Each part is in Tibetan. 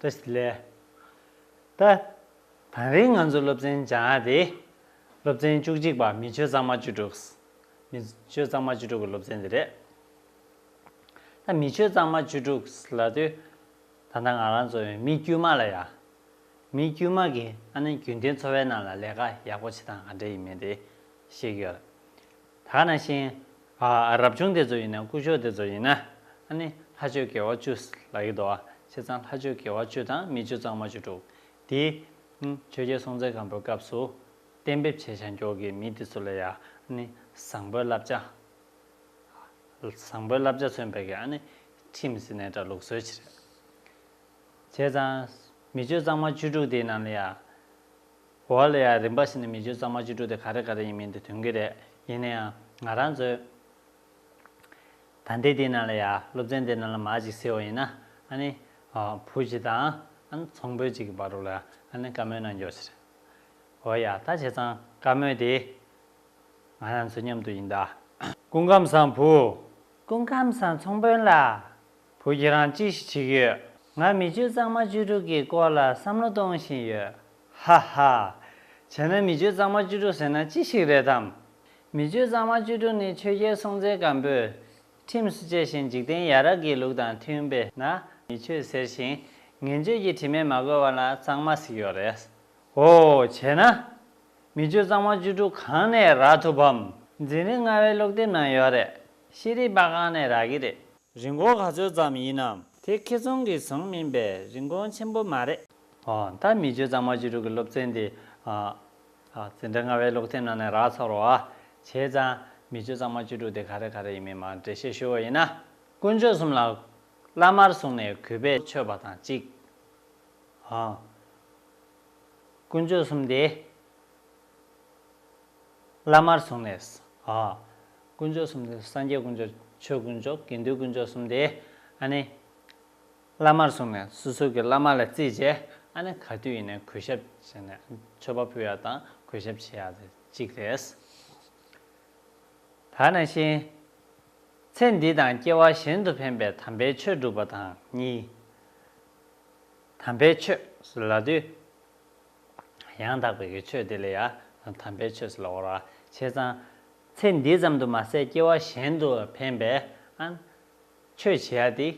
ཏཱ་ཞི་ལེ། ད་དང་རིང་ང་ཚོ་སློབ་ཚན་སྦྱང་ཡག་དེ། སློབ་ཚན་བཅུ་གཅིག་པ་མི་ཆོས་གཙང་མ་བཅུ་དྲུག། མི་ཆོས་གཙང་མ་བཅུ་དྲུག་གི་སློབ་ཚན་དེ་རེད། ད་མི་ཆོས་གཙང་མ་བཅུ་དྲུག་ལ་དུས་ད་ལྟ་ང་རང་ཚོ་མི་དཀྱུས་མ་ལ་ཡ། མི་དཀྱུས་མ་གི་ཨ་ནེ་རྒྱུན་ལྡན་འཚོ་བའི་ནང་ལ་ལས་ཀ་ཡག་པོ་བྱེད་སྟངས་ག་འདྲ་ཡིན་མིན་དེ་ཤེས་གི་ཡོད། ད་ནང་བཞིན། རབ་བྱུང་དེ་ཚོ་ཡིན་ན་སྐུ་ཕྱོགས་དེ་ཚོ་ཡིན་ན། ནི་ལྷ་ཆོས་དགེ་བ་བཅུ། ལ་ཡིག་དོ། བྱས་ཙང་ལྷ་ཆོས་དགེ་བ་བཅུ་དང་མི་བཅུ་གཙང་མ་བཅུ་དྲུག། དེ། ཆོས་རྒྱལ་སྲོང་བཙན་སྒམ་པོའི་སྐབས་སུ། གཏན་འབེབས་བྱས་བྱང་ཕྱོགས་ཀྱི་མི་དེ་ཚོ་ལ་ཡང། ནི། བཟང་པོའི་བསླབ་བྱ། བཟང་པོའི་བསླབ་བྱ་མཚོན་པའི་ག་ནི། ཁྲིམས་སི་ནའི་དྲ་ལུགས་སྲོལ་ཕྱི་རབས། བྱས་ཙང། མི་བཅུ་གཙང་མ་བཅུ་དྲུག་དེའི་ནང་ལ་ཡང། འོ་ལེ་ཡ་རིམ་པ་ཞིག་ནས་མི་བརྗོད་ཙང་མ་བཅོས་དྲུག་དེ་ག་རེ་ག་རེ་ཡིན་མིན་དེ་དོན་གྱི་རེད་ཡིན་ན་ཡང་ང་རང་ཚོས། ད་འདི་དེ་ན་ལ་ཡ་སློབ་ཚན་དེ་ན་ལ་མ་ཅིག་སེ་བ་ཡིན་ན་ཨ་ནི། བུ་ཅིག་དང་ཨ་ནི་ཚོང་དཔོན་ཅིག་གི་བར་རུ་ལ་ཨ་ནི་བཀའ་མོལ་གནང་རྒྱོག་ཆེ་རེད། འོ་ཡ་ད་བྱས་ཙང་བཀའ་མོལ་དེ། ང་རང་ཚོའི་མཉམ་དུ་ཡིན་ད། སྐུ་ཁམས་བཟང་བུ། སྐུ་ཁམས་བཟང་ཚོང་དཔོན་ལགས། བུ་ཁྱེད་རང་ཅི་ཞིག་བྱེད་ཀྱི་ཡོད། ང་མི་བཅུ་གཙང་མ་བཅུ་དྲུག་གི་སྐོར་ལ་བསམ་བློ་གཏོང་བཞིན་ཡོད། ཧ་ཧ། བྱས་ན་མི་བཅུ་གཙང་མ་བཅུ་དྲུག་ཟེར་ན་ཅི་ཞིག་རེད་དམ། མི་བཅུ་གཙང་མ་བཅུ་དྲུག་ནི་ཆོས་རྒྱལ་སྲོང་བཙན་སྒམ་པོས་ཁྲིམས་སུ་བཅས་ཤིང་འཇིག་རྟེན་ཡ་རབས་ཀྱི་ལུགས་དང་མཐུན་པས་ན་མི་ཆོས་ཟེར་ཞིང་ངན་སྤྱོད་ཀྱི་དྲི་མས་མ་གོས་བ་ན་གཙང་མ་ཟིག་ཡོད་རེད། ཨོ། བྱས་ན། མི་བཅུ་གཙང་མ་བཅུ་དྲུག་གང་ནས་རག་ཐུབ་བམ། འཛིན་རིགས་ལྔ་བའི་ཀློག་དེབ་ནང་ཡོད་རེད། ཤེས་རིག་པ་ཁང་ནས་རག་གི་རེད། རིན་གོང་ག་ཚོད་ཙམ་ཡིན་ནམ། དེ་ཁེ་ཚོང་གི་ཟོང་མིན་པས་རིན་གོང་ཆེན་པོ་མ་རེད། ད་མི་བརྗོད་གཙང་མ་བཅུ་དྲུག་གི་སློབ་ཚན་འདི། འཛིན་གྲྭ་ལྔ་བའི་ཀློག་ཐེངས་ནང་ནས་རག་ཚར་བ། བྱས་ཙང། མི་བརྗོད་གཙང་མ་བཅུ་དྲུག་དེ་ག་རེ་ག་རེ་ཡིན་མིན་མར་འགྲེལ་བཤད་ཞུ་བ་ཡིན་ན། དཀོན་མཆོག་གསུམ་ལ། བླ་མར་བཟུང་ནས་གུས་པས་མཆོད་པ་དང་གཅིག། དཀོན་མཆོག་གསུམ་དེ། བླ་མར་བཟུང་ནས། ཧཱུྃ། དཀོན་མཆོག་གསུམ་སྟེ་སངས་རྒྱས་དཀོན་མཆོག་ཆོས་དཀོན་མཆོག་དགེ་འདུན་དཀོན་མཆོག་གསུམ་སྟེ། ཨ་ནི། བླ་མར་བཟུང་ནས་སོ་སོ་གི་བླ་མ་ལ་རྩིས་བྱས། ཨ་ནི་ག་དུས་ཡིན་ནའི་གུས་ཞབས་བྱས་ནས་མཆོད་པ་ཕུལ་ཡག་དང་གུས་ཞབས་བྱེད་ཡག་དེ་གཅིག་རེད། ད་ནང་བཞིན། ཚེ་འདི་དང་སྐྱེ་བ་གཞན་དུ་ཕན་པའི་དམ་པའི་ཆོས་སྒྲུབ་པ་དང་གཉིས། དམ་པའི་ཆོས་ལ་དུས། ཡང་དག་པའི་གེགས་ཆོད་དེ་ལས་ཡང་དམ་པའི་ཆོས་ལ་བོར་བ་བྱས་ཙང། ཚེ་འདི་ཙམ་དུ་མ་ཟད་སྐྱེ་བ་གཞན་དུ་འཕེན་པས་ཨན། ཆོས་བྱེད་ཡ་དེ་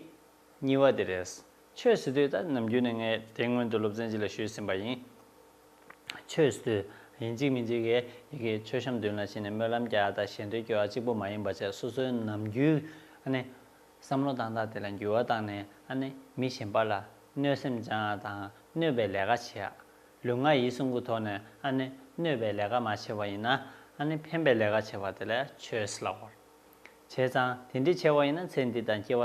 གཉིས་བ་དེ་རེད། ཆོས་བྱེད་དུས་ད་ནམ་རྒྱུན་ནས་ངས་དེ་སྔོན་དུ་སློབ་ཚན་གཅིག་ལ་ཞུས་ཟིན་པ་ཡིན། ཆོས་བྱེད་དུས་ཡིན་གཅིག་མིན་གཅིག་གིས་ཡི་གེ་མཆོད་བཤམས་མདུན་ལ་ཕྱིན་ནས་སྨོན་ལམ་རྒྱག་ད་གཞན་དོན་སྐྱོ་བ་གཅིག་པོ་མ་ཡིན་པ་བྱས་སོ་སོའི་ནམ་རྒྱུན་ཨ་ནི། བསམ་བློ་བཏང་སྟངས་དེ་ལ་འགྱུར་བ་བཏང་ནས་ཨ་ནེ་མི་གཞན་པ་ལ་གནོད་སེམས་སྦྱང་བ་དང་གནོད་པའི་ལས་ཀ་བྱེད་ཡ། ལུས་ངག་ཡིད་གསུམ་གུ་དོག་ནས་ཨ་ནེ་གནོད་པའི་ལས་ཀ་མ་བྱས་པ་ཡིན་ན་ཨ་ནེ་ཕན་པའི་ལས་ཀ་བྱས་པ་དེ་ལས་ཆོས་སླ་བོར་བྱས་ཙང་དེ་འདྲས་བྱས་པ་ཡིན་ན་ཚེ་འདི་དང་སྐྱེ་བ་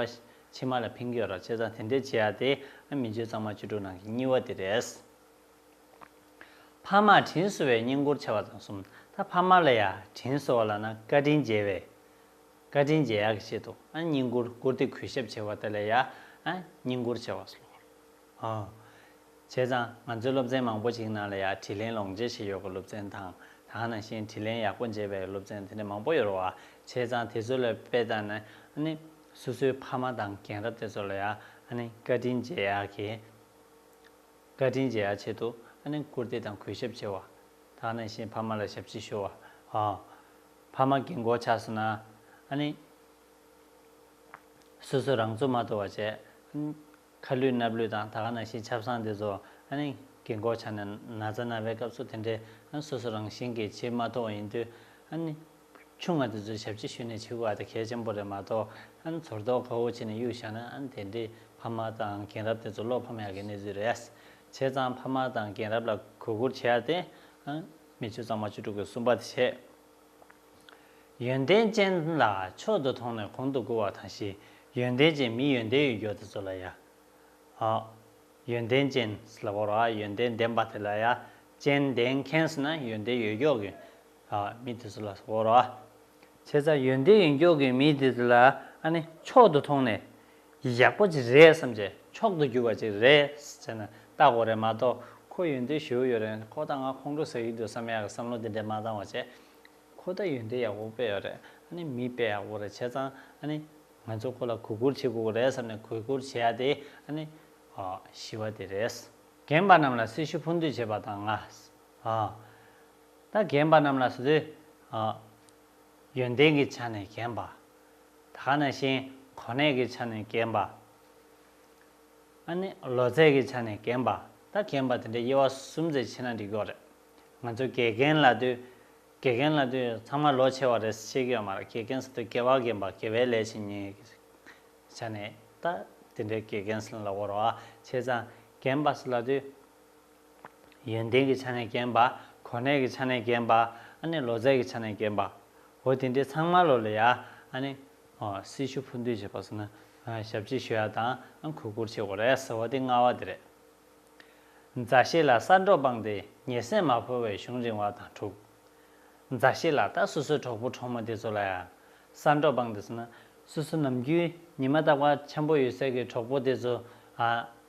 ཕྱི་མ་ལ་ཕན་གྱི་ཡོད་ར་བྱས་ཙང་དེ་འདྲས་བྱས་ཡ་དེ་ཨ་མི་འཇོན་གཙང་མ་བཅུ་དྲུག་ནང་གི་གཉིས་བ་དེ་རེད། ཕ་མར་དྲིན་གསོ་བའི་བསྙེན་བཀུར་བྱ་བ་དང་གསུམ་ད་ཕ་མ་ལ་ཡ་དྲིན་གསོ་བ་ལ་ན་བཀའ་དྲིན་འཇལ་བའི་བཀའ་དྲིན་རྗེ་ཡག་གི་བཤད་འདུག་བསྙེན་བཀུར་བཀུར་སྟི་གུས་ཞབས་བྱེད་པ་དེ་ལས་ཡག་བསྙེན་བཀུར་བྱེད་པ་སློབ་བྱས་ཙང་ང་ཚོའི་སློབ་ཚན་མང་པོ་ཞིག་ནང་ལ་ཡག་དྲིས་ལན་ལོངས་སྤྱད་བྱེད་ཡོད་པའི་སློབ་ཚན་དང་དང་ནང་བཞིན་དྲིས་ལན་ཡག་པོ་འཇལ་བའི་སློབ་ཚན་དེ་འདྲ་མང་པོ་ཡོད་བ་བྱས་ཙང་དེ་ཚོ་ལ་དཔེ་བལྟ་ན་ནི་སོ་སོའི་ཕ་མ་དང་རྒན་རབས་དེ་ཚོ་ལ་ཡག་བཀའ་དྲིན་རྗེ་ཡག་གི་བཀའ་དྲིན་རྗེ་ཡག་བྱེད་འདུག་བཀུར་སྟི་དང་གུས་ཞབས་བྱེད་བ་དང་ནང་བཞིན་ཕ་མ་ལ་ཞབས་ཕྱི་ཞུ་བ། ཕ་མ་གིས་མགོ་ཆགས་སོང་ན་ཨ་ནི། སོ་སོས་རང་ཚུགས་མ་གཏོགས་བ་བྱས། ཨ་ནི། ཁ་ལུས་སྣབས་ལུས་དང་ད་ག་ན་ཤི་ཆབ་གསང་དེ་ཚོ་ཨ་ནི། གིས་མགོ་ཆགས་ནས་ན་ཚ་ན་བའི་སྐབས་སུ་དེ་འདྲའི་ཨ་ནི་སོ་སོ་རང་བཞིན་གྱིས་བྱེད་མ་གཏོགས་བ་ཡིན་དུས་ཨ་ནི། ཆུང་མ་དེ་ཚོའི་ཞབས་ཕྱི་ཞུས་ནས་བྱེད་དགོས་བ་དེ་གལ་ཆེན་པོ་རེད་མ་གཏོགས་ཨ་ནི་ཚོར་རྟོག་ག་བོ་བྱས་ནས་གཡུག་བཞག་ན་ཨ་ནི་དེ་འདྲའི་ཕ་མ་དང་རྒན་རབས་དེ་ཚོ་བློ་ཕམ་ཡག་གི་གནས་ཚུལ་རེད། བྱས་ཙང་ཕ་མ་དང་རྒན་རབས་ལ་གུས་བཀུར་བྱས་ཡག་སྟེ། མི་བཅུ་གཙང་མ་བཅུ་དྲུག་གི་བསུ་བ་དེ་བྱས། ཡོན་ཏན་ཅན་ལ་མཆོག་ཏུ་མཐོང་ནས་གོང་དུ་བཀུར་བ་དང་བཞི། ཡོན་ཏན་ཅན་མི་ཡོན་ཏན་ཡོད་མགྱོགས་དེ་ཚོ་ལ་ཡ། ཨ། ཡོན་ཏན་ཅན་ལ་བོར་བ་ཡོན་ཏན་ལྡན་པ་དེ་ལ་ཡ། ཅན་ལྡན་མཁན་ཟེར་ན་ཡོན་ཏན་ཡོད་མགྱོགས་ཀྱི། ཨ། མི་དེ་ཚོ་ལ་བོར་བ། བྱས་ཙང་ཡོན་ཏན་ཡོན་ཀྱོག་གི་མི་དེ་ཚོ་ལ་ཨ་ནི་མཆོག་ཏུ་མཐོང་ནས། ཡག་པོ་ཅིག་རེད་བསམ་རྗེས་མཆོག་ཏུ་གྱུར་བ་ཅིག་རེད་བྱས་ན་ལྟ་གོ་རེད་མ་གཏོགས་ཁོ་ཡོན་ཏན་ཞུ་ཡོད་རེད་ཁོ་ད་ང་ཁོང་ཁྲོ་ཟ་ཡི་འདུག་བསམ་ཡག་གི་བསམ་བློ་དེ་འདྲས་མ་བཏང་བ་བྱས། ཁོ་ད་ཡོན་ཏན་ཡག་པོ་སྤེལ་ཡོད་རེད་ཨ་ནི་མི་སྤེལ་ཡག་པོ་རེད་བྱས་ཙང་ཨ་ནི་ང་ཚོ་ཁོ་ལ་གུས་བཀུར་བྱེད་དགོས་ཀྱི་རེད་བསམ་ནས་གུས་བཀུར་བྱེད་ཡ་དེ་ཨ་ནི་ཞི་བ་དེ་རེད། རྒན་པ་རྣམས་ལ་སྲི་ཞུ་ཕུ་འདུས་བྱས་པ་དང་ང། ད་གན་པ་རྣམས་ལ་སོ་སོའི། ཡོན་ཏན་གྱི་ཆ་ནས་གན་པ། ད་ག་ན་ཞིང་གོ་གནས་ཀྱི་ཆ་ནས་གན་པ། ཨ་ནི་ལོ་ཚད་ཀྱི་ཆ་ནས་གན་པ། ད་གན་པ་དེ་འདྲའི་དབྱེ་བ་གསུམ་ཚེ་ཕྱེ་ན་འགྲིག་གི་རེད། ང་ཚོ་དགེ་རྒན་ལ་དུས། དགེ་རྒན་ལ་དུས་ཚང་མ་ལོ་ཆེ་བ་རེད་བཤད་ཀྱི་ཡོད་མ་རེད་དགེ་རྒན་ཟེར་དུས་དགེ་བ་རྒན་པ་དགེ་བའི་ལས་བྱེད་ཉིད་ཀྱི་ཆ་ནས་ད་དེ་འདྲའི་དགེ་རྒན་ཟེར་ན་ལ་འོར་བ་ཆེ་ཙང་གན་པ་ཟེར་ལ་དུས། ཡོན་ཏན་གྱི་ཆ་ནས་རྒན་པ། གོ་གནས་ཀྱི་ཆ་ནས་རྒན་པ། ཨ་ནི་ལོ་ཙཱའི་གྱི་ཆ་ནས་རྒན་པ། འོ་དེ་འདྲའི་ཚང་མ་ལོ་ལ་ཡ། ཨ་ནི། ཨོ་སྲི་ཞུ་ཕུ་འདུས་བྱེད་པ་སོགས་ནི། ཞབས་ཕྱི་ཞུ་ཡ་དང་ཨ་གུས་བཀུར་བྱེད་གོ་རེ་ཟེར་བ་དེ་སྔ་བ་དེ་རེད། མཛའ་བཤེས་ལ་གསར་འགྲོགས་སྤངས་ཏེ་ཉེ་སྲས་མ་ཕོ་བའི་གཞུང་རིང་བ་དང་དྲུག། མཛའ་བཤེས་ལ་ད་སོ་སོའི་གྲོགས་པོ་གྲོགས་མོ་དེ་ཚོ་ལ་ཡང་གསར་འགྲོགས་སྤངས་ཏེ་སོང་ན། སོ་སོ་ནམ་རྒྱུན་ཉི་མ་རྟག་པ་འཆམ་པོ་ཡོད་སའི་གི་གྲོགས་པོ་དེ་ཚོ་ཨ།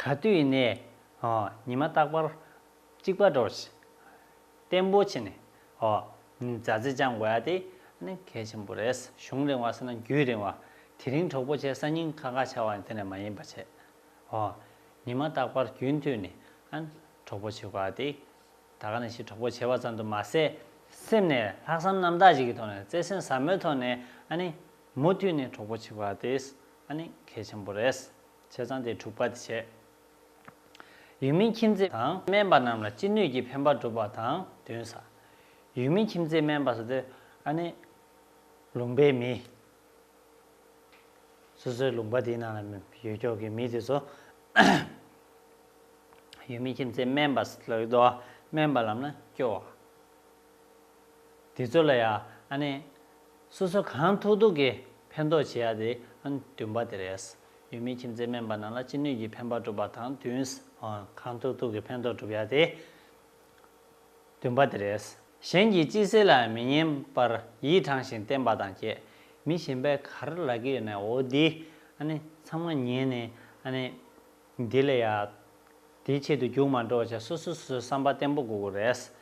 ག་དུས་ནས་ཉི་མ་རྟག་པར་གཅིག་པ་འགྲོ་ཞིང། བརྟན་པོ་བྱས་ནས་མཛའ་བརྩེ་བཅངས་དགོས་པ་དེ་ནི་གལ་ཆེན་པོ་རེད། གཞུང་རིང་བ་སྲིད་ན་རྒྱུད་རིང་བ། དེ་རིང་གྲོགས་པོ་བྱས་ས་སྙིང་ཁ་ཁ་བྱ་བ་ནི་དེ་ནས་མ་ཡིན་པ་བྱས། ཉི་མ་རྟག་པར་རྒྱུན་མཐུད་ནས་གྲོགས་པོ་བྱེད་དགོས་པ་དེ་ད་ག་ནས་ཤི་གྲོགས་པོ་བྱས་པ་ཙམ་དུ་མ་ཟད། སེམས་ནས་ལྷག་བསམ་རྣམ་དག་ཅིག་གི་ཐོག་ནས་བརྩེ་སེམས་ཟབ་མོའི་ཐོག་ནས་མུ་མཐུད་ནས་གྲོགས་པོ་བྱེད་དགོས་པ་དེ་གལ་ཆེན་པོ་རེད། བྱས་ཙང་དེ་འཁྲུག་པ་དེ་བྱས། ཡུལ་མིའི་ཁྱིམ་མཚེས་དང་སྨན་པ་རྣམས་ལ་ཅི་ནུས་ཀྱིས་ཕན་པ་བསྒྲུབ་པ་དང་བདུན་ཟ། ཡུལ་མིའི་ཁྱིམ་མཚེས་སྨན་པ་ཟ་དེ་ཨ་ནི། ལུང་པའི་མི། སོ་སོའི་ལུང་པ་དེའི་ནང་ལ་ཡོད་ཀྱོག་གི་མི་དེ་ཚོ། ཡུལ་མིའི་ཁྱིམ་མཚེས་སྨན་པ་ཟ་ལ་སྡོ་བ་སྨན་པ་ལམ་ན་སྐྱོ་བ། དེ་ཚོ་ལ་ཡང་སོ་སོ་གང་ཐུག་ཐུག་གིས་ཕན་ཐོགས་བྱེད་ཡ་དེ་བདུན་པ་དེ་རེད། ཡུལ་མིའི་ཁྱིམ་མཚེས་སྨན་པ་རྣམས་ལ་ཅི་ནུས་ཀྱིས་ཕན་པ་སྒྲུབ་པ་དང་བདུན། གང་ཐུག་ཐུག་གིས་ཕན་ཐོགས་སྒྲུབ་ཡ་དེ་བདུན་པ་དེ་རེད། གཞན་གྱིས་ཅི་ཟེར་ལ་མི་ཉན་པར་ཡིད་དྲང་ཞིང་བརྟན་པ་དང་བཅས་མི་གཞན་པའི་གར་ལག་གི་འོ་དེ་ཚང་མ་ཉན་ནས་འདི་ལ་ཡང། དེའི་ཆེད་དུ་རྒྱུགས་མ་འགྲོ་བ་བྱ་སོ་སོ་སོའི་བསམ་པ་བརྟན་པོ་དགོས་དགོས་རེད།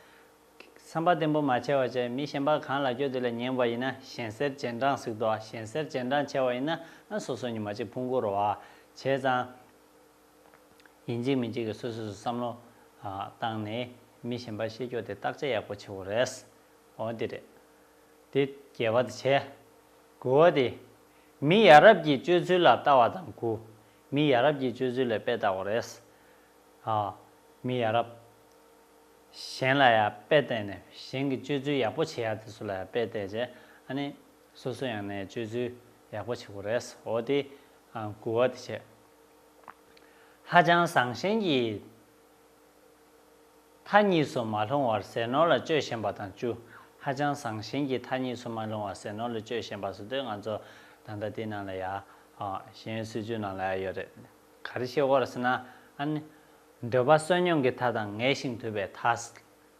བསམ་པ་བརྟན་པོ་མ་བྱས་བ་བྱས་མི་གཞན་པ་གང་ལག་སྐྱོད་དེ་ལ་ཉན་བ་ཡིན་ན་གཞན་སེར་སྤྱན་དྲངས་ཟིག་དོ་གཞན་སེར་སྤྱན་དྲངས་ཆེ་བ་ཡིན་ན་ཨ་སོ་སོ་ཉི་མ་གཅིག་ཕུང་བོ་རོ་བྱས་ཙང། ཡིན་གཅིག་མིན་གཅིག་གི་སོ་སོ་སོའི་བསམ་བློ་བཏང་ནས་མི་གཞན་པ་ཤེས་སྐྱོ་དེ་བརྟག་དཔྱད་ཡག་པོ་བྱེད་དགོས་རེད། འོ་དེ་རེད། དེ་རྒྱལ་བ་དེ་བྱས། དགུ་བ་དེ། མི་ཡ་རབས་ཀྱི་སྤྱོད་ཚུལ་ལ་བལྟ་བ་དང་དགུ། མི་ཡ་རབས་ཀྱི་སྤྱོད་ཚུལ་ལས་དཔེ་བལྟ་བ་རེད། ཨ། མི་ཡ་རབས། གཞན་ལ་ཡང་དཔེ་བལྟས་ནས་གཞན་གྱི་སྤྱོད་ཚུལ་ཡག་པོ་བྱེད་ཡ་དེ་ཚོ་ལ་ཡང་དཔེ་བལྟས་རྗེས་ཨ་ནི། སོ་སོ་ཡང་ནས་སྤྱོད་ཚུལ་ཡག་པོ་བྱེད་དགོས་རེད། འོ་དེ། གུ་བ་དེ་བྱས། ཧ་ཅང་བཟང་ཞེན་གྱིས། མཐའ་གཉིས་སུ་མ་ལྷུང་བར་ཟས་ནོར་ལ་སྤྱོད་བཞིན་པ་དང་བཅུ། ཧ་ཅང་བཟང་ཞིང་གི་མཐའ་གཉིས་སུ་མ་ལྷུང་བར་ཟས་ནོར་ལ་སྤྱོད་བཞིན་པ་སོ་དོན་ང་ཚོ་ད་ལྟ་དེ་ནང་ལ་ཡ། གཞན་སྲིད་ཇུས་ནང་ལ་ཡ་ཡོད་རེད། ག་རེ་བཤད་གོ་ཟེར་ན། ཨ་ནི། འདོད་པ་བསོད་སྙོམས་ཀྱི་མཐའ་དང་ངལ་ཞིང་དུབ་པའི་མཐའ།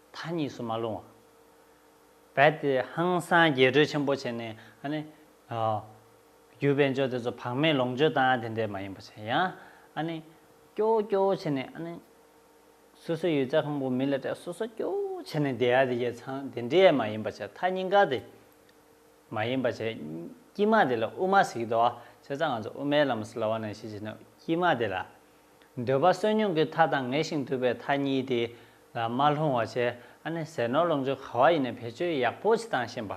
མཐའ་གཉིས་སུ་མ་ལྷུང་བ། རྦད་དེ་ཧང་སངས་རྒྱས་སྤྲོས་ཆེན་པོ་བྱས་ནས་ཨ་ནི། རྒྱུ་དཔེ་འཇོག་དེ་ཚོ་བག་མེད་ལོངས་སྤྱོད་དང་དེ་འདྲས་མ་ཡིན་པ་བྱས་ཡང་ཨ་ནི། སྐྱོ་སྐྱོ་བྱས་ནས་ཨ་ནི། སོ་སོའི་ཡུལ་རྩ་ཁང་པོ་མི་ལ་སྤྲད་སོ་སོ་སྐྱོ་བྱས་ནས་བསྡད་ཨ་དེ་རྒྱལ་ཚང་དེ་འདྲས་མ་ཡིན་པ་བྱས་མཐའ་སྙིང་ག་དེ་མ་ཡིན་པ་བྱས། དཀྱིས་མ་དེ་ལ་དབུ་མ་ཟིག་དོ་བྱས་ཙང་ང་ཚོ་དབུ་མའི་ལམ་སླ་བ་ནང་བཞིན་བྱས་ན་དཀྱིས་མ་དེ་ལ། འདོད་པ་བསོད་སྙོམས་ཀྱི་མཐའ་དང་ངེས་ཤིང་དུལ་བའི་མཐའ་གཉིས་དེ་ལ་མ་ལྷུང་བ་བྱས་ཨ་ནི་ཟས་ནོར་ལོངས་སྤྱོད་ག་བ་ཡིན་ནས་བེད་སྤྱོད་ཡག་པོ་བྱས་དང་ཤེས་པ།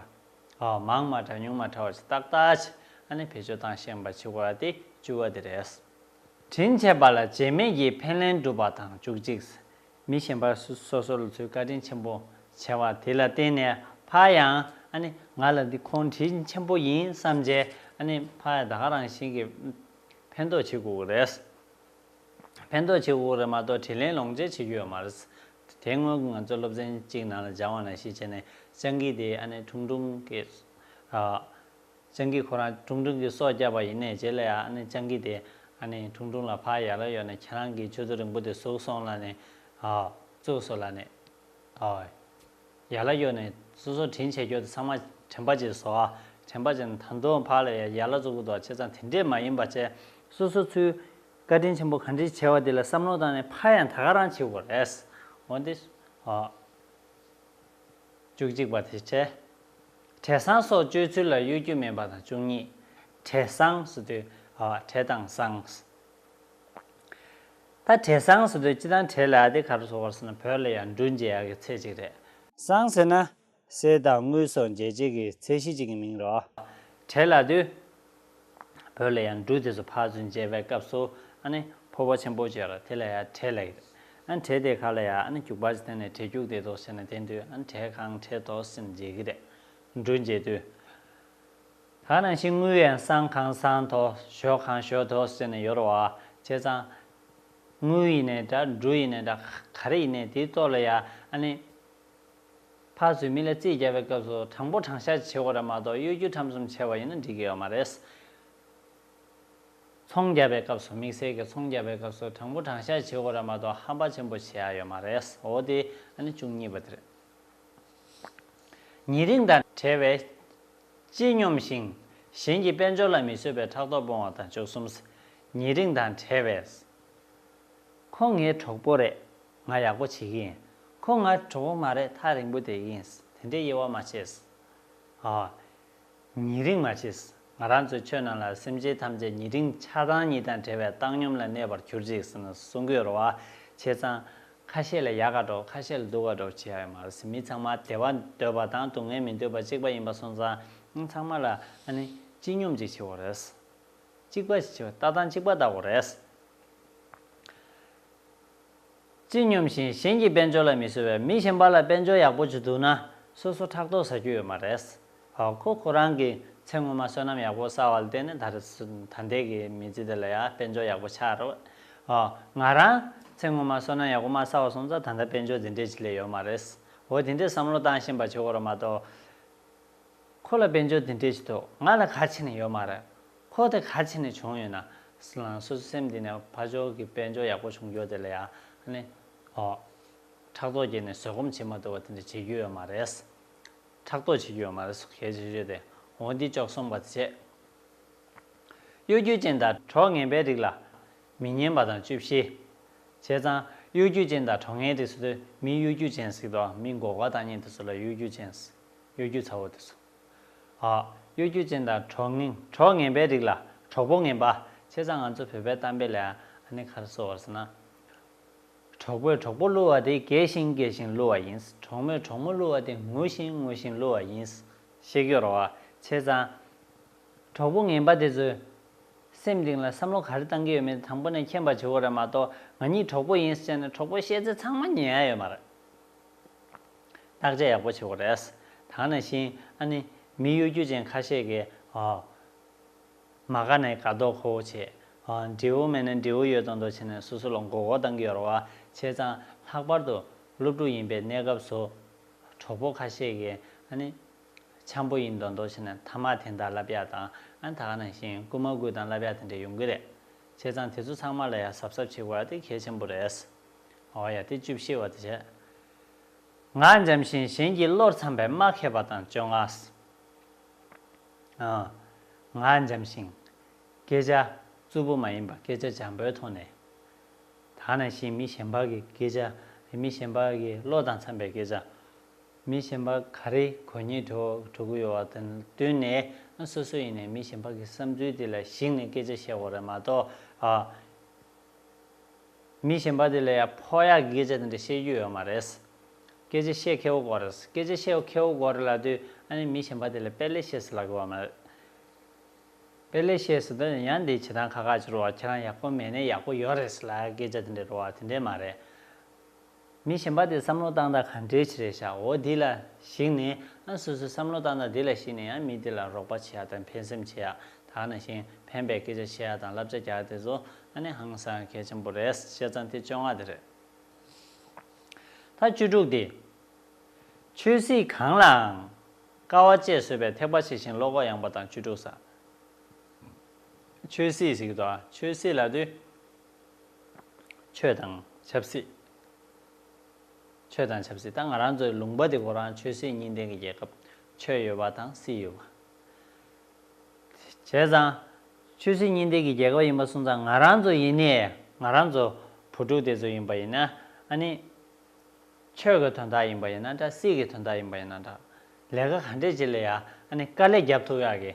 མང་མ་ཕྲ་ཉུང་མ་ཕྲ་བ་བྱེ་བཏགས་ལྟར་ཨ་ནི་བེད་སྤྱོད་སྟངས་ཤེས་པ་ཕྱི་བ་སྟེ་བཅུ་བ་དེ་རེད། དྲིན་ཆེ་བ་ལ་བྱེད་མེད་ཀྱི་ཕན་ལན་སྒྲུབ་པ་དང་བཅུ་གཅིག། མི་གཞན་པ་སོ་སོར་ལ་ཚུལ་བཀའ་དྲིན་ཆེན་པོ་ཆེ་བ་དེ་ལ་བརྟེན་ནས་ཕ་ཡང་ཨ་ནི་ང་ལ་འདི་ཁོང་དྲིན་ཆེན་པོ་ཡིན་བསམ་རྗེས་ཨ་ནི་ཕ་ཡང་ད་ག་རང་བཞིན་གྱི་ཕན་འདོགས་བྱེད་དགོས་ཀྱི་རེད། ཕན་འདོགས་བྱེད་དགོས་ཀྱི་རེད་མ་གཏོགས་དྲིན་ལན་ལོངས་སྤྱད་བྱེད་རྒྱུ་ཡོད་མ་རེད། དེ་སྔོན་ང་ཚོ་སློབ་ཚན་གཅིག་ནང་ལ་སྦྱང་བ་ན་གཞི་བྱས་ནས་སྤྱང་ཀི་དེ་ཨ་ནེ་ཁྲུང་ཁྲུང་གིས། སྤྱང་ཀི་ཁོ་རང་ཁྲུང་ཁྲུང་གིས་སྲོག་བསྐྱབས་པ་ཡིན་ནས་རྗེས་ལ་ཡང་ཨ་ནེ་སྤྱང་ཀི་དེས་ཨ་ནེ་ཁྲུང་ཁྲུང་ལ་ཕར་ཡར་ལ་གཡོག་ནས་ཁྱེད་རང་གི་ཁྱོད་ཚོ་རིང་པོ་དེ་ཟུག་སོང་ལ་ནས། བཙུགས་སོ་ལ་ནས། ཡར་ལ་གཡོག་ནས་སོ་སོ་དྲིན་ཆེ་ཁྱོད་ཚོ་ཚང་མ་དྲན་པ་བྱེད་སོ། དྲན་པ་བྱས་ནས་ད་དུང་ཕར་ལ་ཡར་ལ་བཙུགས་པ་དང་བྱས་ཙང་དེ་འདྲས་མ་ཡིན་པ་བྱས། སོ་སོ་ཚུལ་བཀའ་དྲིན་ཆེན་པོ་གང་དྲིན་ཆེ་བ་དེ་ལ་བསམ་མནོ་བཏང་ནས་ཕར་ཡང་ད་ག་རང་བྱེད་དགོས་རེད། འོན་ཏེ། ཧོ། བཅུ་གཅིག་པ་དེ་བྱས། བྲེ་བསང་སོགས་སྤྱོད་ཚུལ་ལ་གཡོ་སྒྱུ་མེད་པ་དང་བཅུ་གཉིས། བྲེ་བསང་སོ་དུས། ཧོ། བྲེ་དང་བསང། ད་བྲེ་བསང་སོ་དུས་སྤྱི་དང་བྲེ་ལ་ཨ་ཏི་ག་རུ་སོགས་བར་སོང་ན་བོད་ལ་ཡང་འབྲུ་འཇལ་ཡག་གི་ཚད་ཅིག་རེད། བསང་ཟེར་ན། གསེར་དང་དངུལ་སོགས་འཇལ་བྱེད་ཀྱི་ཚད་གཞི་གཅིག་གི་མིང་རོ། བྲེ་ལ་དུ། བོད་ལ་ཡང་འབྲུ་དེ་ཚོ་ཕར་ཚུར་འཇལ་བའི་སྐབས་སུ་ཨ་ཕོ་བོ་ཆེན་པོ་ཅེས་ར་དེ་ལ་ཡང་བྲེ་ལེགས། བྲེ་དེ་ག་ལ་ཡ་རྒྱུག་པར་བརྟེན་ནས་བྲེ་རྒྱུག་དེ་དོ་ཟེར་ནས་དེ་དུས་བྲེ་གང་བྲེ་དོ་ཟེར་ནས་འཇལ་གྱི་རེད། འབྲུ་འཇལ་དུས། གང་རང་བཞིན་དངུལ་ཡང་སྲང་གང་སྲང་དོ་ཞོ་གང་ཞོ་དོ་ཟེར་ནས་ཡོར་བ། བྱས་ཙང། དངུལ་ཡིན་ནའི་འདྲ་འབྲུ་ཡིན་ནའི་འདྲ་ག་རེ་ཡིན་ནའི་དེའི་ལྟོ་ལ་ཡ་ཨ་ནི། ཕར་ཚུར་མི་ལ་རྩིས་རྒྱག་པའི་སྐབས་སུ་དྲང་པོ་དྲང་བཞག་བྱེད་དགོས་ར་མ་གཏོགས་གཡོ་སྒྱུ་ཁྲམ་གསུམ་བྱེད་པ་ཡིན་ན་འགྲིག་གི་ཡོད་མ་རེད། ཚོང་རྒྱག་པའི་སྐབས་སུ་དམིགས་བསལ་གྱི་ཚོང་རྒྱག་པའི་སྐབས་སུ་དྲང་པོ་དྲང་བཞག་བྱེད་དགོས་ར་མ་གཏོགས་ཧམ་པ་ཆེན་པོ་བྱེད་ཡག་ཡོད་མ་རེད་འོ་དེ་ཨ་ནི་བཅུ་གཉིས་པ་དེ་རེད། ཉེ་རིང་དང་བྲལ་བའི། ཅི་སྙོམས་ཤིང། གཞན་གྱི་དཔལ་འབྱོར་ལ་མི་བཟོད་པའི་ཕྲག་དོག་སྤོང་བ་དང་བཅུ་གསུམ། ཉེ་རིང་དང་བྲལ་བའི། ཁོང་ངའི་གྲོགས་པོ་རེད། ང་ཡག་པོ་བྱེད་ཀྱི་ཡིན། ཁོང་ང་གྲོགས་པོ་མ་རེད་ཐག་རིང་པོ་དེ་ཡིན། དེ་འདྲའི་དབྱེ་བ་མ་ཕྱེས། ཨ། ཉེ་རིང་མ་ཕྱེས། ང་རང་ཚོའི་ཆོས་རྣམས་ལ་སེམས་ཅན་ཐམས་ཅད་ཉེ་རིང་ཆགས་སྡང་གཉིས་དང་བྲལ་བའི་བཏང་སྙོམས་ལ་གནས་པར་གྱུར་ཅིག་ཟེར་ན་གསུང་དགོས་རོ། བྱས་ཙང། ཁ་ཤས་ལ་ཡག་ག་གྲོགས་ཁ་ཤས་ལ་སྡུག་ག་གྲོགས་བྱེད་ཡག་ཡོད་མ་རེད། མི་ཚང་མ་བདེ་བ་འདོད་པ་དང་སྡུག་བསྔལ་མི་འདོད་པ་གཅིག་པ་ཡིན་པ་སོང་ཙང། ཚང་མ་ལ་ཨ་ནི་སྤྱི་སྙོམས་ཅིག་བྱེད་དགོས་རེད། གཅིག་པ་ཞེས་བྱ་བ་ལྟ་སྟངས་གཅིག་པ་ལྟ་བུ་རེད། ཅི་སྙམ་བཞིན་གཞན་གྱི་དཔལ་འབྱོར་ལ་མི་གསོད་པའི་མི་གཞན་པ་ལ་དཔལ་འབྱོར་ཡག་པོ་བྱེད་འདུག་ན་སོ་སོ་ཕྲག་དོག་ཟ་རྒྱུ་ཡོད་མ་རེད། ཧོ་ཁོ་ཁོ་རང་གིས་ཚེ་སྔོན་མ་བསོད་ནམས་ཡག་པོ་བསགས་བ་ལ་བརྟེན་ནས་ད་རེས་ད་ལྟའི་གི་མི་ཚེ་འདི་ལ་ཡང་དཔལ་འབྱོར་ཡག་པོ་ཆགས་རེད། ཧོ་ང་རང་ཚེ་སྔོན་མ་བསོད་ནམས་ཡག་པོ་མ་བསགས་བ་སོང་ཙང་ད་ལྟ་དཔལ་འབྱོར་འདི་འདྲའི་ཆེད་ལས་ཡོད་མ་རེད། ཧོ་དེ་འདྲའི་བསམ་བློ་བཏང་བཞིན་པ་ཆོས་གོ་ར་མ་གཏོགས། ཁོ་ལ་དཔལ་འབྱོར་འདི་འདྲའི་ཆེད་དུ་ང་ལ་ག་ཆེ་ནས་ཡོད་མ་རེད། ཁོ་དེ་ག་ཆེ་ནས་བྱུང་ཡོད་ན། ལང་སོ་སོའི་སེམས་འདི་ནས་ཕ་ཇོ་གི་དཔལ་འབྱོར་ཡག་པོ་བྱུང་རྒྱུ་དེ་ལ་ཡང་ནི། ཨོ། ཕྲག་དོག་སྐྱེས་ནས་བཟོད་སྒོམ་བྱེད་མ་ཐུབ་པ་དེ་འདྲ་བྱེད་རྒྱུ་ཡོད་མ་རེད། ཕྲག་དོག་བྱེད་རྒྱུ་ཡོད་མ་རེད་སོགས་གལ་ཆེ་ཤོས་དེ་འོ་འདི་ཅོག་གསུངས་པ་དེ་བྱས། གཡོ་སྒྱུ་ཅན་དང་གྲོགས་ངན་པའི་རིགས་ལ། མི་སྙན་པ་དང་བཅུ་བཞི། བྱས་ཙང་གཡོ་སྒྱུ་ཅན་དང་གྲོགས་ངན་རིགས་སུ་དུ་མི་གཡོ་སྒྱུ་ཅན་ཟིག་དང་མི་འགོག་པ་དང་གཉེན་དུ་སུ་ལ་གཡོ་སྒྱུ་ཅན་ཟིག། གཡོ་སྒྱུ་ཚ་བོ་དེ་སོ། ཨ། གཡོ་སྒྱུ་ཅན་དང་གྲོགས་ངན་གྲོགས་ངན་པའི་རིགས་ལ་གྲོགས་པོ་ངན་པ། བྱས་ཙང་ང་ཚོ་བོད་པའི་གཏམ་དཔེ་ལ་ཡང་ཨ་ནི་ཁར་གསོ་བར་ཟེར་ན། གྲོགས་པོས་གྲོགས་པོ་བསླུ་བ་དེ་རྒས་ཤིང་རྒས་ཤིང་བསླུ་བ་ཡིན། གྲོགས་མོས་གྲོགས་མོ་བསླུ་བ་དེ་ངུ་བཞིན་ངུ་བཞིན་བསླུ་བ་ཡིན། ཤེས་ཀྱི་རོ། བྱས་ཙང། གྲོགས་པོ་ངན་པ་དེ་ཚོས། སེམས་གཏིང་ལ་བསམ་བློ་ག་རེ་བཏང་གི་ཡོད་མེད་དང་པོ་ནས་མཁྱེན་པ་བྱེད་དགོས་རེད་མ་གཏོགས་ང་གཉིས་གྲོགས་པོ་ཡིན་ཟེར་ནས་གྲོགས་པོ་བཤད་ཚེ་ཚང་མ་ཉན་ཡ་ཡོད་མ་རེད། བརྟག་དཔྱད་ཡག་པོ་བྱེད་དགོས་རེད། དང་ནས་བཞིན་ཨ་ནི། མི་གཡོ་སྒྱུ་ཅན་ཁ་ཤས་ཀྱིས། མ་དགའ་ནས་དགའ་མདོག་ཁོ་བོ་བྱེད། འབྲས་བུ་མེད་ནས་འབྲས་བུ་ཡོད་མདོག་མདོག་བྱེད་ནས་སོ་སོ་ལ་མགོ་སྐོར་གཏང་གི་ཡོད་རེད་བ། བྱས་ཙང་ལྷག་པར་དུ་སློབ་ཕྲུག་ཡིན་པའི་གནས་སྐབས་སུ། གྲོགས་པོ་ཁ་ཤས་ཀྱིས་ཨ་ནི། འཆམ་པོ་ཡིན་མདོག་མདོག་བྱེད་ནས་མཐའ་མ་དེ་འདྲ་ལབ་ཡག་དང་ཨ་ནི་དག་ནས་བཞིན་སྐུལ་མ་སྐུལ་དང་ལབ་ཡག་དེ་འདྲ་ཡོང་གི་རེད། བྱས་ཙང་དེ་ཚོ་ཚང་མ་ལ་ཡང་གཟབ་གཟབ་བྱེད་དགོས་ཨ་དེ་གལ་ཆེན་པོ་རེད། ཨོ་ཡ་དེ་བཅུ་བཞི་བ་དུ་བྱས། ང་འཇམ་ཞིང་གཞན་གྱི་བློར་འཚམ་པའི་སྨྲ་མཁས་པ་དང་བཅོ་ལྔ། ང་འཇམ་ཞིང། སྐད་ཆ་རྩུབ་པོ་མ་ཡིན་པ་སྐད་ཆ་འཇམ་པོའི་ཐོག་ནས། ད་ནང་བཞིན་མི་གཞན་པ་གི་སྐད་ཆ་རེ་མི་གཞན་པ་གི་བློ་དང་འཚམ་པའི་སྐད་ཆ། མི་གཞན་པ་ག་རེ་གོ་ཉེན་འགྲོ་གི་ཡོད་བ་དང་བསྟུན་ནས་སོ་སོ་ཡིན་ནའི་མི་གཞན་པ་གི་བསམ་ཚུལ་དེ་ལ་གཞིགས་ནས་སྐད་ཆ་བཤད་དགོས་རེད་མ་གཏོགས། མི་གཞན་པ་དེ་ལ་ཡང་ཕོ་ཡག་གི་སྐད་ཆ་དེ་འདྲ་བཤད་རྒྱུ་ཡོད་མ་རེད། སྐད་ཆ་བཤད་མཁས་བོ་དགོས་རེད། སྐད་ཆ་བཤད་མཁས་བོ་དགོས་རེད་ལབ་དུས་ཨ་ནི་མི་གཞན་པ་དེ་ལ་དཔེ་ལེགས་བཤད་སུ་ལ་དགོས་བ་མ་རེད། དཔེ་ལེགས་བཤད་སུ་དོན་ཡང་འདི་བྱེད་སྟངས་ཁ་ཁ་ཅིག་རུ་བ་ཁྱེད་རང་ཡག་པོ་མེད་ནས་ཡག་པོ་ཡོད་རེད་སུ་ལ་སྐད་ཆ་དེ་འདྲ་རུ་བ་དེ་འདྲས་མ་རེད། མི་གཞན་པ་དེ་བསམ་བློ་བཏང་དང་ག་འདྲའི་ཆེ་རེད་བྱའོ་དེ་ལ་གཞིགས་ནས་ཨང་སོ་སོས་བསམ་བློ་བཏང་དང་དེ་ལ་གཞིགས་ནས་ཡང་མི་དེ་ལ་རོགས་པ་བྱེད་ཡག་དང་ཕན་སེམས་བྱེད་ཡག་དག་ན་ཞིང་ཕན་པའི་སྐད་ཆ་བཤད་ཡག་དང་བསླབ་བྱ་རྒྱག་དེ་ཚོ་ཨ་ནི་ཧང་སང་གལ་ཆེན་པོ་རེད་བཤད་ཙང་དེ་བཅོ་ལྔ་དེ་རེད། ད་བཅུ་དྲུག་དེ། ཆོས་སྲིད་གང་ལའང་དཀའ་བ་སྤྱད་བཟོད་པའི་ཐེག་པ་ཆེ་ཞིང་བློ་ཁོག་ཡངས་པ་དང་བཅུ་དྲུག་ས། ཆོས་སྲིད་ཞིག་དང་ཆོས་སྲིད་ལ་དུས། ཆོས་དང་ཆབ་སྲིད། ཆོས་དང་ཆབ་སྲིད་ད་ང་རང་ཚོའི་ལུང་པ་འདི་གོ་རང་ཆོས་སྲིད་གཉིས་ལྡན་གྱི་རྒྱལ་ཁབ་ཆོས་ཡོད་པ་དང་སྲིད་ཡོད་པ། བྱས་ཙང། ཆོས་སྲིད་གཉིས་ལྡན་གྱི་རྒྱལ་ཁབ་ཡིན་པ་གསུངས་ཙང་ང་རང་ཚོ་ཡིན་ནས་ང་རང་ཚོ་བུ་ཕྲུག་དེ་ཚོ་ཡིན་པ་ཡིན་ན་ཨ་ནི། ཆོས་ཀྱི་དོན་དག་ཡིན་པ་ཡིན་ན་འདྲ་སྲིད་ཀྱི་དོན་དག་ཡིན་པ་ཡིན་ན་འདྲ། ལས་ཀ་ག་འདྲས་བྱེད་ལ་ཡ་ཨ་ནི་དཀའ་ལས་རྒྱབ་ཐུབ་ཡག་གི།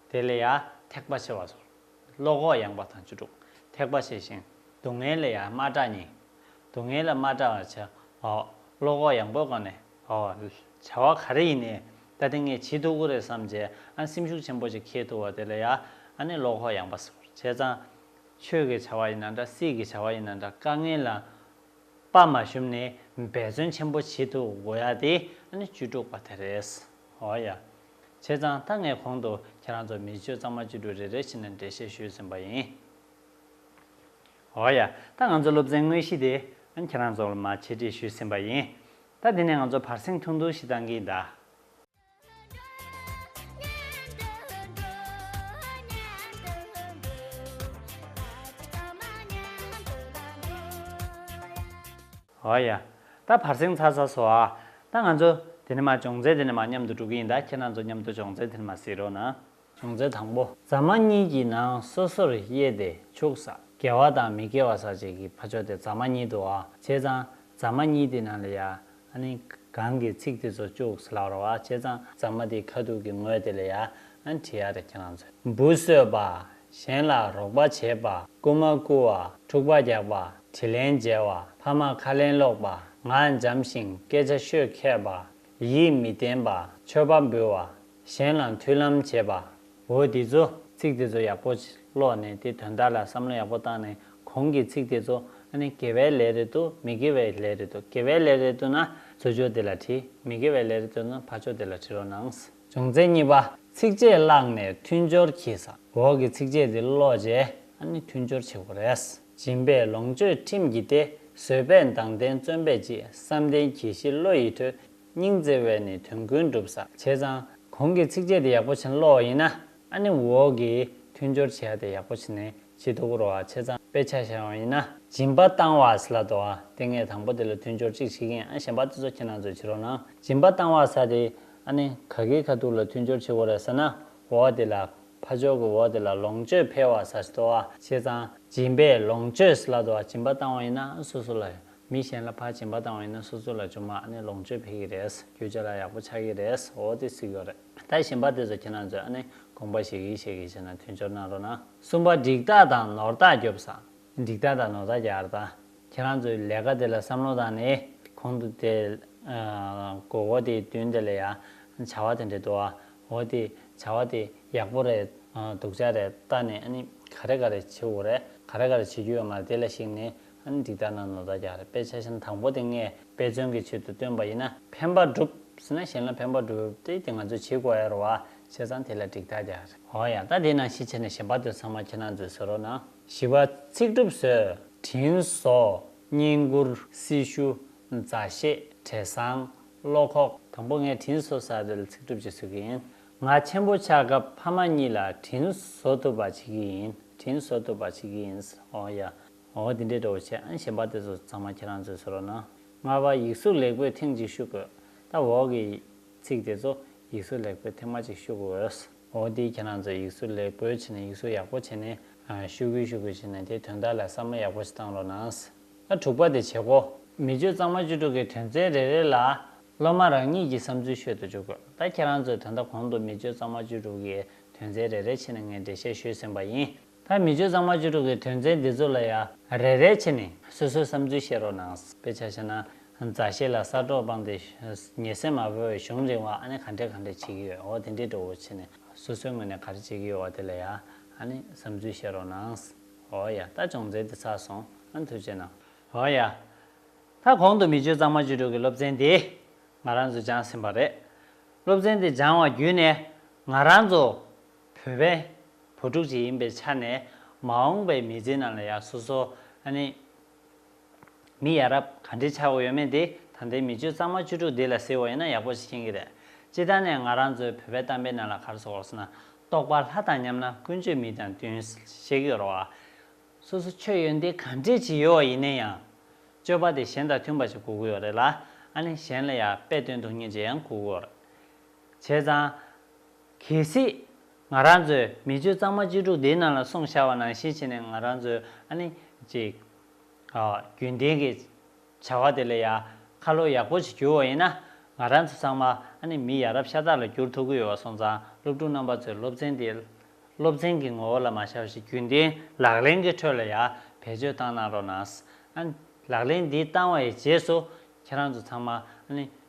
དེ་ལས་ཡང་ཐེག་པ་ཆེ་བ་སོ། བློ་ཁོག་ཡངས་པ་དང་བཅུ་དྲུག་ཐེག་པ་ཆེ་ཞིང་སྡུག་བསྔལ་ལས་ཡང་མ་སྐྲག་སྙིང། སྡུག་བསྔལ་ལ་མ་སྐྲག་བར་བྱའོ། བློ་ཁོག་ཡངས་པོའི་སྒོ་ནས་འོ། བྱ་བ་ག་རེ་ཡིན་ནས་ད་དེ་ངས་བྱེད་ཐུབ་ཀི་རེད་བསམ་བྱས་ཨ་སེམས་ཤུགས་ཆེན་པོ་ཅིག་འཁྱེར་ཐུབ་བ་དེ་ལས་ཡང་ཨ་ནི་བློ་ཁོག་ཡངས་པ་སོ། བྱས་ཙང། ཆོས་ཀྱི་བྱ་བ་ཡིན་ན་འདྲ་སྲིད་ཀྱི་བྱ་བ་ཡིན་ན་འདྲ་དཀའ་ངལ་ལ་དཔའ་མ་ཞུམ་ནས་འབད་བརྩོན་ཆེན་པོ་བྱེད་ཐུབ་དགོས་ཡ་དེ་ཨ་ནི་བཅུ་དྲུག་པ་དེ་རེད། འོ་ཡ། བྱས་ཙང་ད་ངས་གོང་དུ་ཁྱེད་རང་ཚོར་མི་བཅུ་གཙང་མ་བཅུ་དྲུག་རེ་རེ་བྱིན་ནས་འགྲེལ་བཤད་ཞུས་ཟིན་པ་ཡིན། འོ་ཡ། ད་ང་ཚོ་སློབ་ཚན་དངོས་གཞི་དེ་ཁྱེད་རང་ཚོར་མ་འཆད་ཁྲིད་ཞུས་ཟིན་པ་ཡིན། ད་འདི་ནས་ང་ཚོ་བར་སེང་ཐུང་ཐུང་ཞིག་བཏང་གིན་གདའ། འོ་ཡ། ད་བར་གསེང་ཚར་ཚར་སོང་ཨ། ད་ང་ཚོ། དེ་ནི་མ་བྱུང་ཚེ་དེ་ནི་མ་མཉམ་དུ་འགྲོ་གི་ཡིན་ད་ཁྱེད་རང་ཚོ་མཉམ་དུ་བྱུང་ཚེ་དེ་ནི་མ་བསྲེས་རོགས་གནང། བྱུང་ཚེ་དང་པོ་རྫ་མ་གཉིས་ཀྱི་ནང་སོ་སོར་དབྱེ་ཏེ་བྱུགས། ཟ་གལ་བ་དང་མི་གལ་བ་ཟ་བྱེད་ཀྱི་ཕ་ཕྱོགས་དེ་རྫ་མ་གཉིས་དུ་བར་བྱས་ཙང་རྫ་མ་གཉིས་དེ་ནང་ལ་ཡ། ནི། གང་གི་ཚིག་དེ་ཚོ་བཅུགས་ལག་རོགས་བར་བྱས་ཙང་རྫ་མ་དེའི་ཁ་ཐུག་གི་ངོས་དེ་ལ་ཡ། ནི་བྲིས་ཡ་རེད་ཁྱེད་རང་ཚོས་འབུ་གསོད་པ། གཞན་ལ་རོགས་པ་བྱེད་པ། རྐུ་མ་རྐུ་བ། འཁྲུག་པ་རྒྱག་པ། དྲི་ལན་འཇལ་བ། ཕ་མར་ཁ་ལེན་སློག་པ། ངག་འཇམ་ཞིང་སྐད་ཆ་ཤོད་མཁས་པ། ཡིད་མི་བརྟན་པ། མཆོད་པ་འབུལ་བ། གཞན་ལ་མཐུན་ལམ་བྱེད་པ། འོ་དེ་ཚོ། ཚིག་དེ་ཚོ་ཡག་པོ་ཀློག་ནས་དེ་དོན་དག་ལ་བསམ་བློ་ཡག་པོ་བཏང་ནས་གོང་གི་ཚིག་དེ་ཚོ་ཨ་ནི་དགེ་བའི་ལས་རེད་འདུག་མི་དགེ་བའི་ལས་རེད་འདུག་དགེ་བའི་ལས་རེད་འདུག་ན་བཟོད་ཆོག་དེ་ལ་བྲི་མི་དགེ་བའི་ལས་རེད་འདུག་ན་ཕར་ཆོག་དེ་ལ་བྲི་རོགས་གནང། བྱུང་ཚེ་གཉིས་པ། ཚིགས་བཅད་བཀླགས་ནས་མཐུན་སྦྱོར་གྱིས་སམ། འོག་གི་ཚིགས་བཅད་འདི་ཀློག་རྗེས་ཨ་ནི་མཐུན་སྦྱོར་བྱེད་དགོས་རེད། སྦྱིན་པས་ལོངས་སྤྱོད་ཁྲིམས་བགྱིས་ཏེ་བཟོད་པས་མདངས་ལྡན་བརྩོན་པས་སྐྱིད་བསམ་ལྡན་གྱིས་ཤིས་བློ་ཡིས་ཐོས་སྙིང་བརྩེ་བས་ནི་དོན་ཀུན་འགྲུབ་ས་བྱས་ཙང། གོང་གི་ཚིགས་བཅད་འདི་ཡག་པོ་བྱིན་ཀློག་ཡིན་ན་ཨ་ནི་འོག་གི་མཐུན་སྦྱོར་བྱེད་ཡ་དེ་ཡག་པོ་བྱིན་ནས་བྱེད་དུ་བསྐུར་བ་བྱས་ཙང་དཔེ་ཆ་བཞག་ཡོང་ཡིན་ན། སྦྱིན་པ་བཏང་བ་ཟི་ལ་དོ། དེ་ངས་དང་པོ་དེ་ལ་མཐུན་སྦྱོར་ཅིག་བྱེད་ཀྱིན་ཨ་གཞན་པ་དེ་ཚོ་ཁྱེད་རང་ཚོས་བྱེད་རོགས་གནང་སྦྱིན་པ་བཏང་བ་ཟ་དེ་ཨ་ནི་ག་གིའི་ཁ་ཐུག་ལ་མཐུན་སྦྱོར་བྱེད་དགོས་རེད་ཟ་ན་འོག་དེ་ལ་ཕ་ཅོག་གི་འོག་དེ་ལ་ལོངས་སྤྱོད་འཕེལ་བ་ཟ་ཟི་དོ་བ་བྱས་ཙང་སྦྱིན་པས་ལོངས་སྤྱོད་ཟི་ལ་དོ་བ་སྦྱིན་པ་བཏང་བ་ཡིན་ན་སོ་སོ་ལ་མི་གཞན་ལ་ཕ་སྦྱིན་པ་བཏང་བ་ཡིན་ན་སོ་སོ་ལ་ཅུང་མ་ཨ་ནི་ལོངས་སྤྱོད་འཕེལ་གི་རེད་རྒྱུ་ཆ་ལ་ཡག་པོ་ཆགས་ཀྱི་རེད་འོག་དེ་ཟིག་ཡོད་རེད་ད་གཞན་པ་དེ་ཚོ་ཁྱེད་རང་ཚོས་ཨ་ནི་དགོངས་པ་བཞེས་གིན་བཞེས་གིན་བྱས་ན་མཐུན་སྦྱོར་གནང་རོགས་གནང། གསུམ་པ་འགྲིག་རྟགས་དང་ནོར་རྟགས་རྒྱོབ་ས། འགྲིག་རྟགས་དང་ནོར་རྟགས་ཀྱི་ཨར་ཐང། ཁྱེད་རང་ཚོའི་ལས་ཀ་དེ་ལ་བསམ་བློ་བཏང་ནས་གོང་དུ་དེ། གོ་གོ་དེའི་དུས་འདི་ལ་ཡང་བྱ་བ་དེ་འདྲས་འདུག་ཨ་འོ་དེ་བྱ་བ་དེ་ཡག་པོ་རེད་འདུག་ཆ་རེ་བལྟ་ནས་ཨ་ནི་ག་རེ་ག་རེ་བྱེད་འོ་རེད་ག་རེ་ག་རེ་བྱེད་རྒྱུ་ཡོད་མ་རེད་དེ་ལ་གཞིགས་ནས་འདི་ལྟར་ན་ནོར་བདག་ཀྱང་རེག་པའི་ཆ་ཤས་དང་པོ་དེ་ངས་དཔེ་མཚོན་གྱི་ཕྱིར་དུ་སྟོན་པ་ཡིན་ན་ཕན་པ་འགྲུབ། ཟེར་ན་གཞན་ལ་ཕན་པ་འགྲུབ་བས་དེ་ང་ཚོས་བྱེད་དགོས་ཡར་བ་བྱས་ཙང་དེ་ལ་འགྲིག་བདག་ཀྱང་རེག། ཨོ་ཡ་ད་དེས་ན་ཤི་ཆེ་ནས་གཞན་པ་དོན་ཚང་མ་ཁྱེད་རང་ཚོས་བཟོས་རོགས་གནང། བཞི་བ། ཚིག་གྲུབ་བཟོས། དྲིན་གཟོ། བསྙེན་བཀུར། སྲི་ཞུ། མཛའ་བཤེས། བྲེ་བཟང། བློ་ཁོག། དང་པོ་ངས་དྲིན་གཟོ་ས་རེད་ལ་ཚིག་གྲུབ་ཀྱིས་བཟོས་ཀྱི་ཡིན། ང་ཆེན་པོ་ཆགས་སྐབས་ཕ་མ་གཉིས་ལ་དྲིན་གཟོ་ཐུབ་པ་བྱེད་ཀྱི་ཡིན་དྲིན་གཟོ་ཐུབ་པ་བྱེད་ཀྱི་ཡིན། ཨོ་ཡ། ངོ་བོ་འདི་འདྲའི་འགྲོ་བ་ཆེ་ཨང་ཞེས་འབའ་སྡེ་ཚོ་ཚང་མ་ཁྱེད་རང་ཚོས་ཟེར་རོགས་གནང། ལྔ་བ་ཡིག་གཟུགས་ལེགས་པོས་ཐེངས་གཅིག་ཤུ་དགོས། ད་འོག་གི། ཚིག་དེ་ཚོ། ཡིག་གཟུགས་ལེགས་པོས་ཐེངས་མ་གཅིག་ཤུ་དགོས་འོས། འོ་དེ་ཁྱེད་རང་ཚོས་ཡིག་གཟུགས་ལེགས་པོའི་ཆེད་ནས་ཡིག་གཟུགས་ཡག་པོ་བྱས་ནས། ཤུ་དགོས་ཤུ་དགོས་བྱས་ནས་དེའི་དོན་དག་ལ་བསམ་བློ་ཡག་པོ་ཞིག་བཏང་རོགས་གནང། ཨ་དྲུག་པ་དེ་བྱེད་གོ། མི་བཅུ་གཙང་མ་བཅུ་དྲུག་གི་དོན་ཚན་རེ་རེ་ལ། སློབ་མ་རང་ཉིད་ཀྱི་བསམ་ཚུལ་ཤོད་དུ་འཇུག་དགོས། ད་ཁྱེད་རང་ཚོས་དོན་དག་གོང་དུ་མི་བཅུ་གཙང་མ་བཅུ་དྲུག་གི་དོན་ཚན་རེ་རེ་ཆེད་ནས་ངས་འགྲེལ་བཤད་ཞུས་ཟིན་པ་ཡིན། ཐ་མི་བཅོས་གཙང་མ་བཅུ་དྲུག་གི་དོན་ཚན་འདི་ཚོ་ལ་ཡ་རེ་རེ་བྱེད་ནས་སོ་སོའི་བསམ་ཚུལ་བཤད་རོགས་གནང། དཔེ་ཆ་ཤེས་ན་མཛའ་བཤེས་ལ་གསར་འགྲོགས་སྤངས་ཏེ་ཉེ་སྲས་མ་བོས་བའི་གཞུང་རིང་བ་ཨ་ནི་ག་འདྲས་ག་འདྲས་བྱེད་ཀྱི་ཡོད་འོ་དེ་འདྲས་འགྲོ་བོ་བྱེད་ནས་སོ་སོའི་ངོས་ནས་ག་རེ་བྱེད་ཀྱི་ཡོད་འོ་དེ་ལ་ཡ་ཨ་ནི་བསམ་ཚུལ་བཤད་རོགས་གནང། འོ་ཡ་ད་སྦྱོང་ཚན་འདི་ཚར་སོང་ཨ་ནི་ཐུགས་རྗེ་གནང། འོ་ཡ་ད་གོང་དུ་མི་བཅོས་གཙང་མ་བཅུ་དྲུག་གི་སློབ་ཚན་འདི་ང་རང་ཚོས་སྦྱངས་ཟིན་པ་རེད། སློབ་ཚན་འདི་སྦྱངས་བ་བརྒྱུད་ནས་ང་རང་ཚོ། བོད་པའི་བུ་ཕྲུག་ཅིག་ཡིན་པའི་ཆ་ནས་མ་འོངས་པའི་མི་ཚེ་ནང་ལ་ཡང་སོ་སོ་ཨ་ནི། མི་ཡ་རབས་ག་འདྲི་ཆགས་ཡོད་མེད་དེ་ད་ལྟའི་མི་སྤྱོད་གཙང་མ་བཅུ་དྲུག་འདི་ལ་ཟེར་བ་ཡིན་ན་ཡག་པོ་ཞིག་ཡིན་གྱི་རེད། སྤྱི་ལྟར་ནས་ང་རང་ཚོའི་བོད་པའི་གཏམ་དཔེ་ནང་ལ་གར་སོགས་ལོགས་ན་རྟོགས་པ་ལྷ་དང་མཉམ་ན་ཀུན་སྤྱོད་མི་དང་བསྟུན་བཤེགས་ཡོད་རོགས་ཨ། སོ་སོ་ཆོས་ཡོད་འདི་ག་འདྲི་བྱེད་ཡོད་བ་ཡིན་ནའི་ཡང། སྤྱོད་པ་དེ་གཞན་དང་མཐུན་པ་ཞིག་གོ་གི་ཡོད་རེད་ལ་ཨ་ནི་གཞན་ལ་ཡག་དཔེ་སྟོན་ཐུབ་ངེས་ཅིག་ཡང་གོ་གི་ཡོད་རེད། བྱས་ཙང། གལ་སྲིད། ང་རང་ཚོས་མི་སྤྱོད་གཙང་མ་བཅུ་དྲུག་དེའི་ནང་ལ་སོང་བཞག་བ་ནང་བཞིན་བྱས་ནས་ང་རང་ཚོས་ཨ་ནི། ཅིག། རྒྱུན་ལྡན་གྱི། བྱ་བ་དེ་ལ་ཡང། ཁ་ལོ་ཡག་པོ་ཞིག་བསྒྱུར་བ་ཡིན་ན། ང་རང་ཚོ་ཚང་མ་ཨ་ནི་མི་ཡ་རབས་ཤ་སྟག་ལ་བསྒྱུར་ཐུབ་ཀྱི་ཡོད་བ་སོང་ཙང་སློབ་ཕྲུག་རྣམ་པ་ཚོས་སློབ་ཚན་དེ། སློབ་ཚན་གྱི་ངོ་བོ་ལ་མ་བཞག་བཞིན་རྒྱུན་ལྡན་ལག་ལེན་གྱི་ཁྲོད་ལ་ཡང་བེད་སྤྱོད་བཏང་གནང་རོགས་གནང། ཨ་ནི། ལག་ལེན་འདི་བཏང་བའི་རྗེས་སུ། ཁྱེད་རང་ཚོ་ཚང་མ་ཨ་ནི།